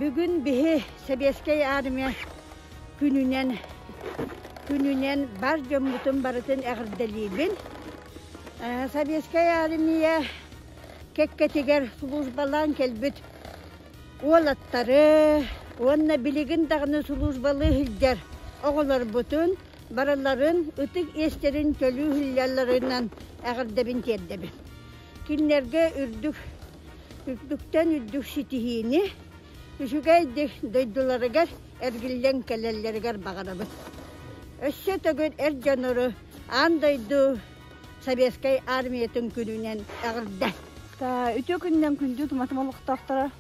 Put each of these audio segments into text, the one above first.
Бүгүн биһи Сэбиэскэй Армия күнүнэн күнүнэн бар дьоммутун барытын эҕэрдэлиибин. Сэбиэскэй Армия кэккэтигэр службалаан кэлбит уолаттары уонна билигин даҕаны службалыы сылдьар оҕолорбутун Барыларын ытык иэстэрин төлүү иһиллэллэринэн эҕэрдэбин тиэрдэбин. Кинилэргэ үрдүк үрдүктэн үрдүк ситиһиини, үчүгэйдик дойдуларыгар эргиллэн кэлэллэригэр баҕарабын. Өссө төгүл эр дьонору аан дойду Советскай армиятын күнүнэн эҕэрдэ. Үтүө күнүнэн күндү туматым олохтоохторо.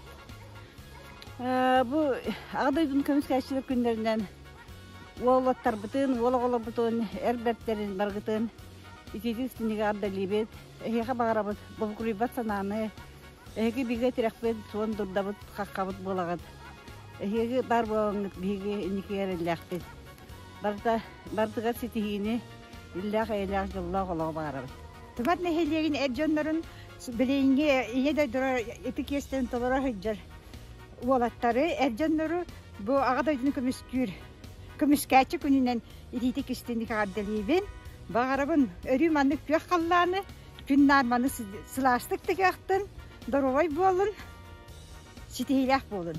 Бу Аҕа дойдун көмүскээччилэр күннэринэн Уоллаттарбытын, уол оҕолорбутун, эр бэртэрин баргытын ититии истиннигэ ардалиибит, эһиэхэ баҕарабыт булгуруйбат санааны, эһиги бигэ тирэхпит, суон дурдабыт, хаххабыт буолаҕыт. Эһиги баар буолаҥҥыт биһиги инники эрэллээхпит. Барыта, бардыгар ситиһиини, иллээх-эйэлээх дьоллоох олоҕу баҕарабыт. Тумат нэһилиэгин эр дьоннорун билиҥҥи ийэ дойдулара ити киэстэн толоро сылдьар уолаттары, эр дьоннору бу Аҕа дойдуну көмүскүүр көмүскээччи күнүнэн итиитик-истиник эҕэрдэлиибин. Баҕарабын өрүү маннык күөх халлааны, күн наар маны сылаастык тыгыахтын, доруобай буолун, ситиһиилээх буолун.